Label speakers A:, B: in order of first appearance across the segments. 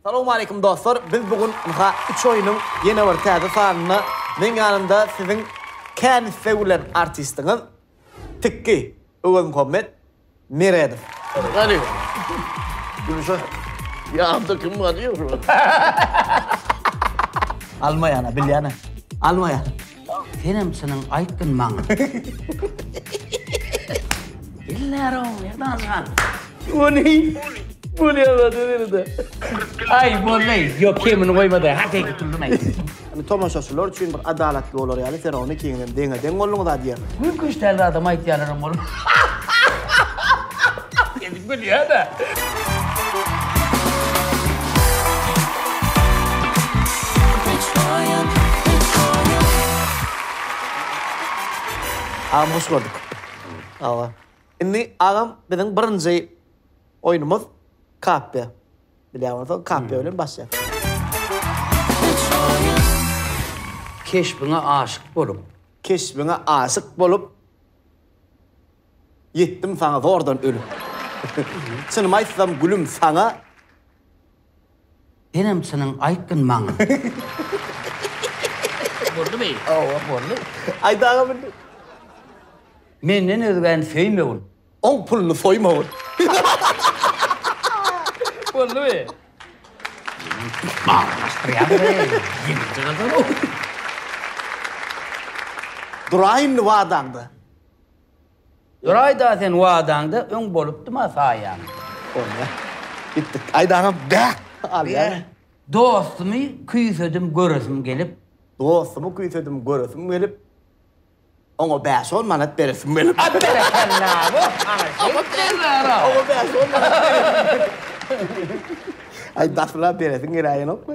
A: Salowmaleýkim dostlar, biz bu gün ynha üç oýnuň ýene bir täze sanynda meň ýanymda siziň kän isleg bilen artistiňiz Tikki Öwezmuhammet Meredow. Gani.
B: Gülşah. Ýanymda kim bar diýýäň
A: şuny. Almaýan-a, bilýän-ä. Almaýan. Senem çynyň
C: aýtdyn maňa. Iller o, nerdan çykan? Ony
B: bolýardy nerede? Ay
C: bollay, yok kemini koymadı. Hadi gitildin ay. Yani tomaşaçylar
A: üçin bir adalatly bolar yani sen onu ikiniz deňe deň bolduňyz ha diýer. Mümkün işlerde adam
C: aytýanlar bolur.
A: Agam hoş gördük. Sagbol. Indi agam biziň birinji oýnumyz Kappe. Bilýän bolsaň Kappe bilen başlaýas.
C: Keşbiňe aşyk bolup. Keşbiňe
A: aşyk bolup. Ýetdim saňa zordan ölüp. Çynymy aýtsam gülüm saňa.
C: Senem çynyň aýtgyn maňa. Boldumy? Hawa boldy.
A: Aýt agam indi. Menden
C: özgäni söýmegin. Oň puluny
A: soýmagyn.
C: Boldumy? Aglaşdyrýaňyz-eý. Ýeňiljek adam.
A: Duraýynmy wadaňda? Duraýda
C: sen wadaňda öň bolupdyma saýaň. Bolýa.
A: Gitdik. Aýdaňam bäh! Alýar. Dostumy
C: küýsedim göresim gelip. Dostumy
A: küýsedim göresim gelip. Oňa bäş-on manat beresim gelip. At berekella!
C: Woh, ana şeýt derler-a! Oňa bäş-on manat beresim
A: gelip. Aý, daşla beresiň geläýenokmy?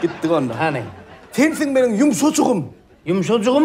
A: Gitdik onda. Hany. Sensiň
C: meniň
A: ýumşajygym. Ýumşajygym?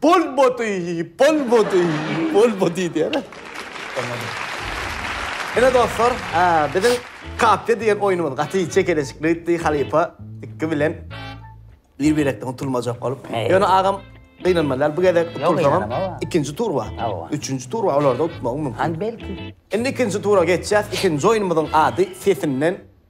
A: Bolmady, bolmady, bolmady diýer. Bolmady. Ine dostlar, biziň Kapyýa diýen oýnumyz gaty çekeleşikli gitdi. Halypa iki bilen bir-birekden utulmajak bolup. Ýöne agam gynanmaly däl. Bu gezek utulsaňam ikinji tur bar. Üçünji tur bar, olarda utmagyň mümkin. Belki.
C: Indi ikinji tura
A: geçýäs. Ikinji oýnumyzyň ady Sesinden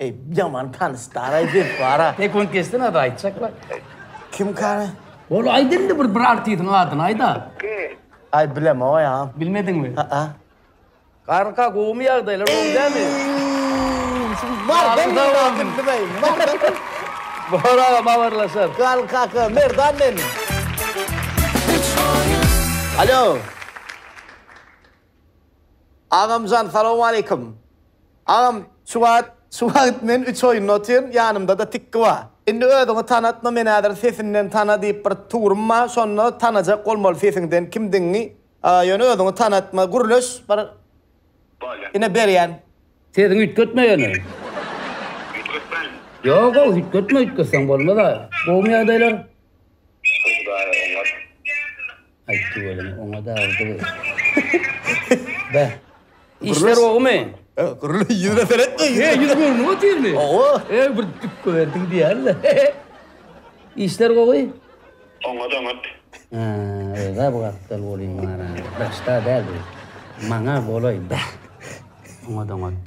D: Eý,
A: ýaman tanyşdar-aý biz bar-a. Tek ony geçsene ada
C: aýtjaklar. Kim
A: kary? Ol aýt indi
C: bir bir artiziň adyny aýda. Aý
D: bilemog-aý
A: agam. Bilmediňmi? Haa. Garka
C: gowumy ýagdaýlar gowy dämi?
A: Bar ben ýadyň bilmeýin. Bar da.
C: Bar agam habarlaşar. Gal kaka
A: merdan men. Alo. Agamjan salowmaleýkim. Agam şu wagt şu wagt men üç oýunda otyryn ýanymdada tikki ba. Indi özüňi tanatma men häzir sesinden tana diýip bir tugrym ba şonda tanajak bolmaly sesiňden kimdigiňi ýöne özüňi tanatma gürleş bir ine berýän. Sesiňi üýtgetme
C: ýöne. Üýtgetmäýin.
D: Ýok ýok
C: üýtgetme üýtgetseň bolmaz a. Gowumy ýagdaýlar. Şükür hudaýa oňat. Aýtdy welin, oňa dagydy gyz. Bä. Işler gowymy? He, gürle ýüzüne
A: seretme. He, ýüz görnüp otyrmy?
C: Hawa. He, bir dükge berdiň diýýän-le. Işler gowy? Oňat, oňat.
D: Hä,
C: özä bu gapdal boluň maňa. Daşda däl bu. Maňa bolaý, bä. Oňat, oňat.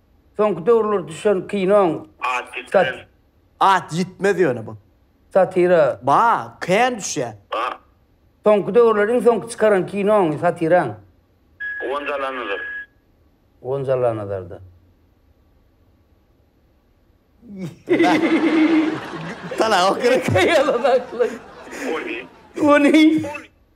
A: Soňky
C: döwürler düşen kinoň At
D: ýitmez. At
A: ýitmez ýöne bu. Satira. Ba,
C: kän
A: düşýä. Ba.
D: Soňky döwürler
C: iň soňky çykaran kinoň, satiraň? Gonja
D: Allanazar.
C: Gonja Allanazarda.
A: Salahok gerek. Ýalan
C: aklyn.
D: Ony. Ony.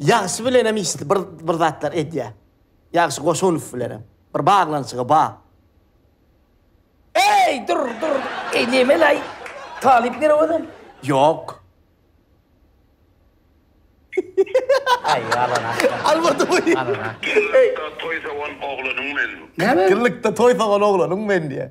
A: Ýagşy bilenem işli bir bir zatlar edýä. Ýagşy Goşunow bilenem bir baglanyşygy ba. Eý,
C: dur, dur. Eý, nemelaý? Talyp nere ozem? Ýok.
A: Aý,
C: alan aşga. Almady bu. Alan a.
A: Ýylda toý
C: sowan
D: oglanyň men. Näme? Ýylda toý sowan
C: oglanyň
A: men diýä.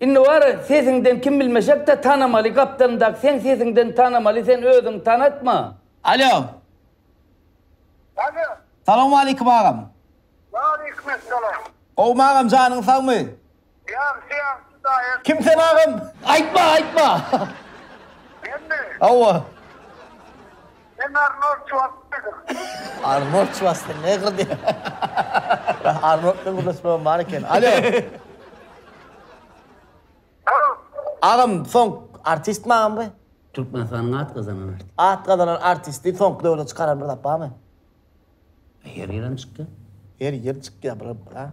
C: Indi bar sesiňden kim bilmesekde tanamaly gapdalyndaky seň sesiňden tanamaly sen özüňi tanatma. Alo. Alo.
A: Salowmaleýkim agam. Waleýkim
E: essalam. Gowmy agam
A: janyň sagmy. Ýagşy ýagşy
E: daýaş. Kim sen agam?
A: Aýtma aýtma.
C: Menmi?
E: Hawa. Men Arnold
A: Şwarsenegger. Arnold Şwarsenegger diýip. Arnold bilen gürleşmegem bar eken. Alo. Alo.
E: Agam,
A: soň artistmi agam bu? Türkmenistanyň at
C: gazanan artisti. At gazanan artisti
A: soňky döwürde çykaran bir zat barmy?
C: Her ýerem çykýar. Her ýer çykýar,
A: bir, a?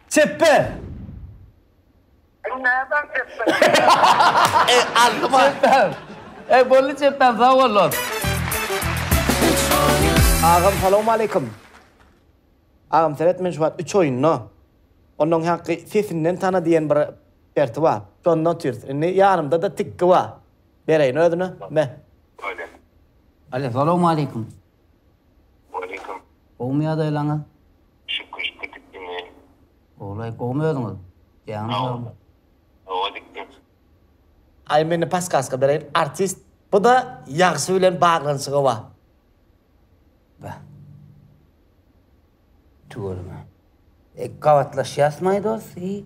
A: Çepbe! Sen
E: nädäň çepbe? Eý,
A: alny bar. Çepbem. Eý, boldy
C: çepbem, sag bol dost.
A: Agam salawmaleýkim. Agam seret men şu wagt üç oýunda. Ondan haky sesinden tana diýen bir perti bar. Şonda otyrys. Indi ýanymda-da tikki bar. Bereýin özüne. Be.
D: Alo,
C: salawmaleýkim.
D: Waleýkim. Gowmy
C: ýadaýlaňyz? Şükür şükür
D: dik diňe. Gowlaýyk
C: gowmy özüňiz? Jaňyz sagmy? Hawa dik
D: dik.
A: Aý mende paskaska bereýin artist. Buda ýagşy bilen baglanyşygy ba.
C: Beh. Tüweleme. Gabatlaşýas my dos i.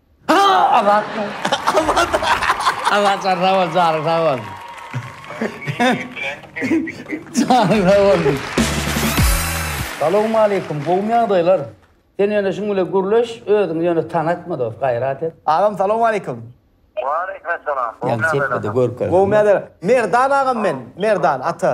C: Azat Azat sag bol janyň sag bolsun. Janyň sag bolsun. Salowmaleýkum gowymy ýagdaýlar. Sen ýöne şuň bile gürleş özüňi ýöne tanatma dos gaýrat et. Agam salowmaleýkum.
A: Waleýkimessalam.
E: Gowymy ýagdaýlar.
C: Gowymy ýagdaýlar. Merdan
A: agam men Merdan ata.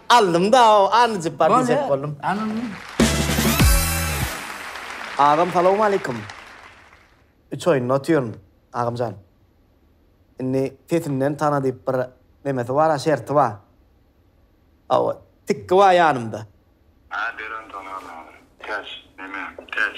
A: Aldym da o anajyk bar diýjek boldum. Agam salowmaleýkum. Üç oýunda otyryn agamjan. Indi sesinden tana diýip bir nemesi bar a şerti bar. Hawa tikki bar ýanymda. Hä bereň tanaň
D: agam. Täç neme täç.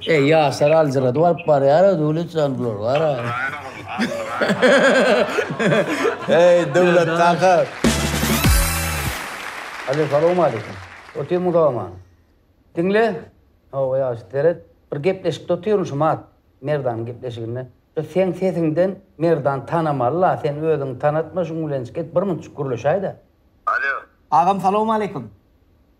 D: Eý, ýaşlar
C: aljyradyp alyp barýar-a, Döwlet jan bular, gara.
A: Eý, Döwlet kaka!
C: Alo, salowmaleýkim. Otyr muzawama. Diňle. Hawa, ýagşy, seret. Bir gepleşikde otyryn şu mat, Merdanyň gepleşiginde. Şu seň sesiňden Merdan tanamaly-la, sen özüňi tanatma, şuň bilençik et, birmunçuk gürleşäý-dä. Alo.
E: Agam, salowmaleýkim.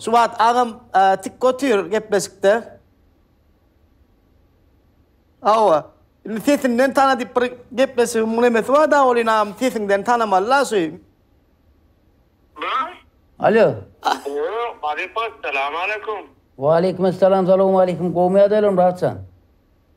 A: Şu wagt agam tik otyr gepleşikde. Hawa. Indi sesinden tana diýip bir gepleşigiň nemesi bar da welin agam sesiňden tanamaly la şu. Alo.
C: Alo, Marypa,
D: salam aleykum. Waleýkim
C: salam, salowmaleýkim. Gowmy ýagdaýlaryň Rahat jan?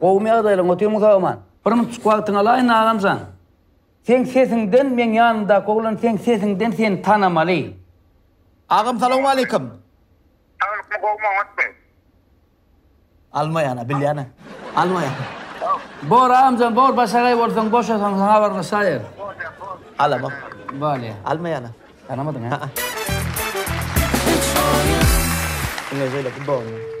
C: Gowmy ýagdaýlaň otyrmy soraman. Bir minutjyk wagtyňy alaýyn agamjan. Seň sesiňden meň ýanymdaky oglan seň sesiňden seni tanamaly.
A: Agam salowmaleýkim. Saglykmy
E: gowmy oňatmy.
A: Almaýana bilýäne almaýan. Bor
C: agamjan bor başagaý bolsaň boşasaň saňa habarlaşaýer. Alamok.
A: Bolýa. Almaýana. Tanamadyň
C: ha.
A: Diňe şeýle gudogym.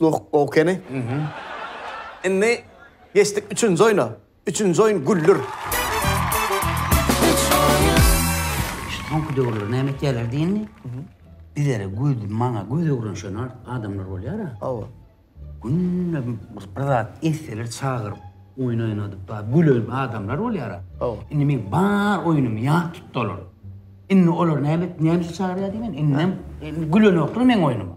A: Nuh Gowkeni. Indi geçdik üçünji oýna. Üçünji oýun Güldür.
C: Şu soňky döwürler näme etýärler diýeni? Bizlere göz, maňa göz öwren şo nal adamlar bolýar-a. Hawa.
A: Günde
C: bir bir zat etseler çagyryp, oýun oýnadyp bar, gülen adamlar bolýar-a. Hawa. Indi meň
A: bar
C: oýnumy ýat tutdy olar. Indi olar näme et, näme üçin çagyrýar diýmen, indem indi gülenoklar meň oýnuma.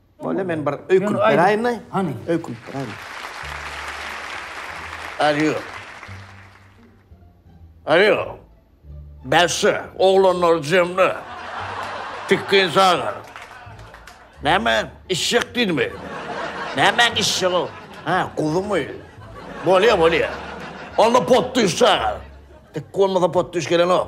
A: Bolýa, men bir öýkünip
B: beräýinmi? Hany. Öýkünip beräýinmi? Alýo. Alýo. Bäsdi, oglanlar jemle. Tikgin sagar. Näme, içjek diýdimi? Nämäň içjegi? Hä, guzymy? Bolýa, bolýa. Onda potdüş çagar. Tikgi bolmasa potdüş gelenok.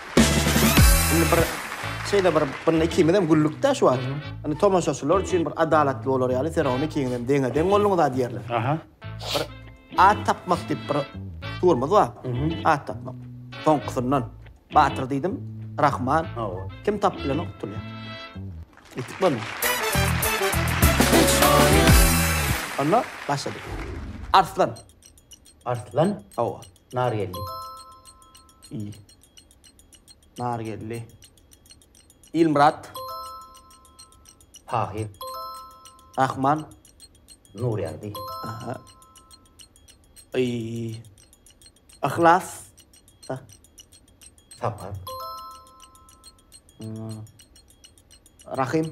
B: Indi
A: bir şeýle bir bir ikimizem güldük-de şu wagt. Indi tomaşaçylar üçin bir adalatly bolar ýaly sen ony ikiňizem deňe-deň bolduňyz-a diýerler. Aha. Bir at tapmak diýip bir tugrumyz bar. At tapmak. Soňkusyndan Batyr diýdim, Rahman. Hawa. Kim tapyp bilenok tutulýar. Ýetik bolma. Onda başladyk. Arslan.
C: Arslan. Hawa.
A: Nargeldi. Il. Nargeldi. Ilmyrat.
C: Tahyr. Rahman. Nurýagdy. Aha.
A: Iý. Yhlas. Sa.
C: Sapar.
A: Rahim.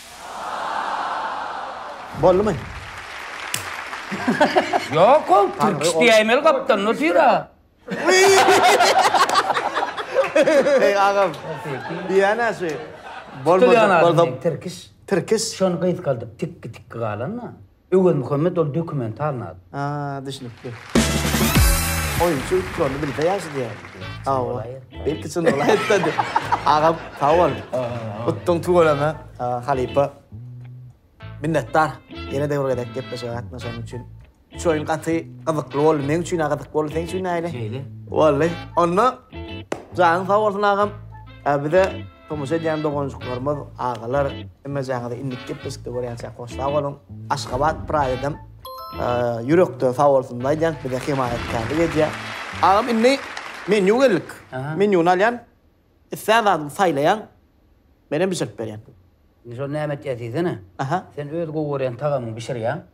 A: Boldumy?
C: Ýok ol tirkiş diýäýmeli gapdan nur süýra. Eý
A: agam. Diýýänä şu. Bolmajak
C: bolsa tirkiş. Tirkiş. Şony
A: gysgaldyp
C: tikki tikki galan-a. Öwez Muhammet ol dokumental nat. Ha, düşnükli.
A: Oýunçy üstlerini bilse ýagşy diýýän. Sag bol. Belki çyn bolaýsa diýip. Agam, sag bol. Utdyň tüweleme. Halypa. Minnetdar. Ýene-de bir gezek gepleşige gatnaşanyň üçin. Şu oýun gaty gyzykly boldy. Meň üçin-ä gyzykly boldy. Seň üçin nähili? Boldy.
C: Onda
A: janyň sag bolsun agam. Bize Tomaşa edýän doganjyklarymyz, agalar, hemmejaňyzy indiki gepleşikde görýänçäk hoş sag boluň. Aşgabat praýydym. Ýürekden sag bolsun aýdýan, bize hemaýatkärlik edýär. Agam indi menýu geldik. Menýuny alýan, islän zadyňy saýlaýaň, menem bişirip berýän. Indi şony näme
C: etýäs diýsene. Sen öz gowy
A: görýän
C: tagamyňy bişirýäň.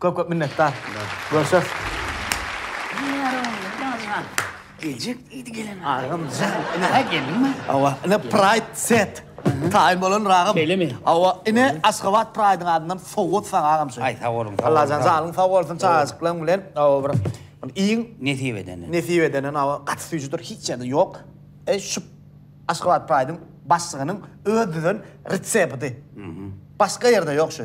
C: Köp köp
A: minnetdar. Görşeris.
C: Gecik idi gelen. Agam jan.
A: Ha gelinme.
C: Awa, ine Pride
A: set. Taýyn bolan ragam. Şeýlemi? Awa, ine Aşgabat Pride-iň adyndan sowgat saňa agam şu. Aý, sag boluň, sag boluň. Allajan
C: janyň sag
A: bolsun çagajyklaň bilen. Awa, bir iň Nesip edeni.
C: nesip edenen awa gaty
A: süýjüdir hiç ýerde ýok. E şu Aşgabat Pride-iň başlygynyň öz düzen retsepti. Başga ýerde ýok şu.